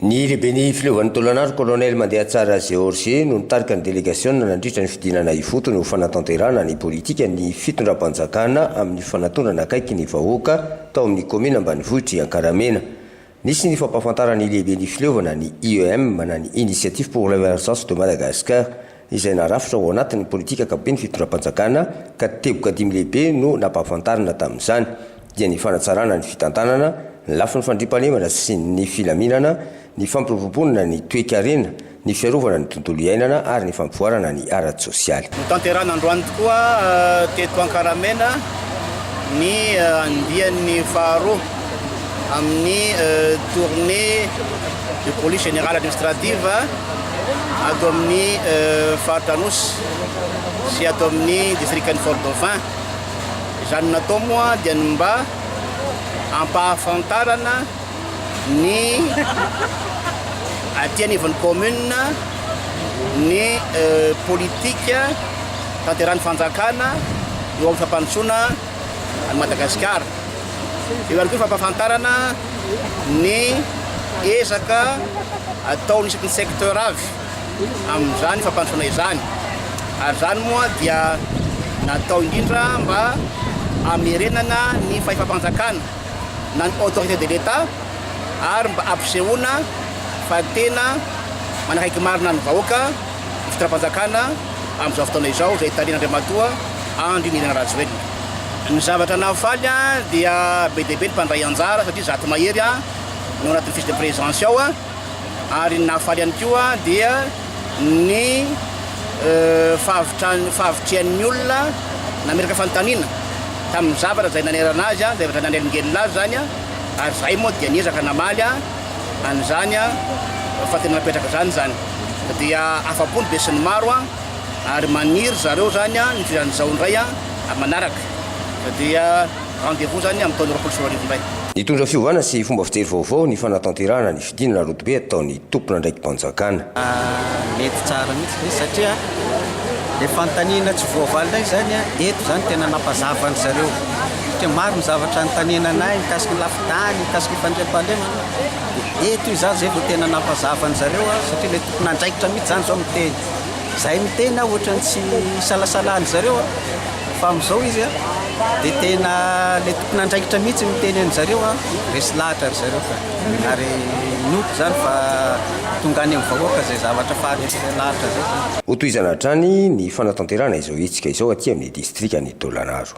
Ny lehiben'ny fileovan'ny Tolagnaro, Colonel Mandehatsara Georges no nitarika ny delegasiona nandritra ny fidinana ifotony ho fanatanterahana ny politikan'ny fitondram-panjakana amin'ny fanatonana akaiky ny vahoaka tao amin'ny kaominina ambanivohitr'i Ankaramena. Nisy ny fampahafantaran'ny lehiben'ny fileovana, ny IEM, na ny Initiative pour l'Emergence de Madagascar, izay narafitra ao anatin'ny politika ankapoben'ny fitondram-panjakana ka teboka dimy lehibe no nampahafantarina tamin'izany dia ny fanatsarana ny fitantanana, ny lafiny fandriampahalemana sy ny filaminana, ny fampiroboroboana ny toekarena, ny fiarovana ny tontolo iainana ary ny fampivoarana ny ara-tsosialy. Notanterahina androany tokoa teto Ankaramena ny andiany faharoa amin'ny tournée de police générale administrative, ato amin'ny faritra Anosy sy ato amin'ny distrikan'i Fort Dauphin. Izany natao moa dia ny mba hampahafantarana ny aty anivon'ny commune ny politika tanteran'ny fanjakana eo amin'ny fampandrosoana an'i Madagasikara. Eo ihany koa ny fampahafantarana ny ezaka ataon'ny isaky ny secteur avy amin'izany fampandrosoana izany. Ary izany moa dia natao indrindra mba hamerenana ny fahefam-panjakana na ny autorité de l'Etat ary mba hampisehoana fa tena manakaiky marina ny vahoaka. fitondram-panjakana amin'izao fotoana izao izay tarihan'Andriamatoa Andry Nirina Rajoelina. Ny zavatra nahafaly dia be dia be ny mpandray anjara satria zato mahery no ao anatin'ny fiche de présence ao ary ny nahafaly ihany koa dia ny fahavitrihan'ny olona nametraka fanontaniana tamin'ny zavatra izay nanerana azy, zavatra nanelingelina azy izany ary izahay moa dia niezaka namaly. an'izany fa tena napetraka izany izany dia afa-po ny besin'ny maro ary maniry ry zareo izany ny fidiran'ny zao indray amin'ny manaraka dia rendez vous izany amin'ny taona roapolo sy roa arivo indray. Nitondra fiovana sy fomba fijery vaovao ny fanatanterahana ny fidinana rodobe ataon'ny tompon'andraiki-panjakana. Mety tsara mihitsy ve satria ilay fanontaniana tsy voavaly indray izany eto izany tena nampazava an-dry zareo. dia maro ny zavatra anontaniana anay mikasika ny lafin-tany, mikasika ny fandriampahalemana. Eto io izaho izay vao tena nampazava an'izareo aho satria ilay tompon'andraikitra mihitsy izany izao miteny. Izahay miteny aho ohatran'ny tsy hisalasala an'izareo aho fa amin'izao izy dia tena ilay tompon'andraikitra mihitsy miteny an'izareo aho. Resy lahatra ry zareo ka. Ary inoako izany fa tonga any amin'ny vahoaka izay zavatra faharesy lahatra izay. Hotohizana hatrany ny fanatanterahana izao hetsika izao aty amin'ny distrikan'i Taolagnaro.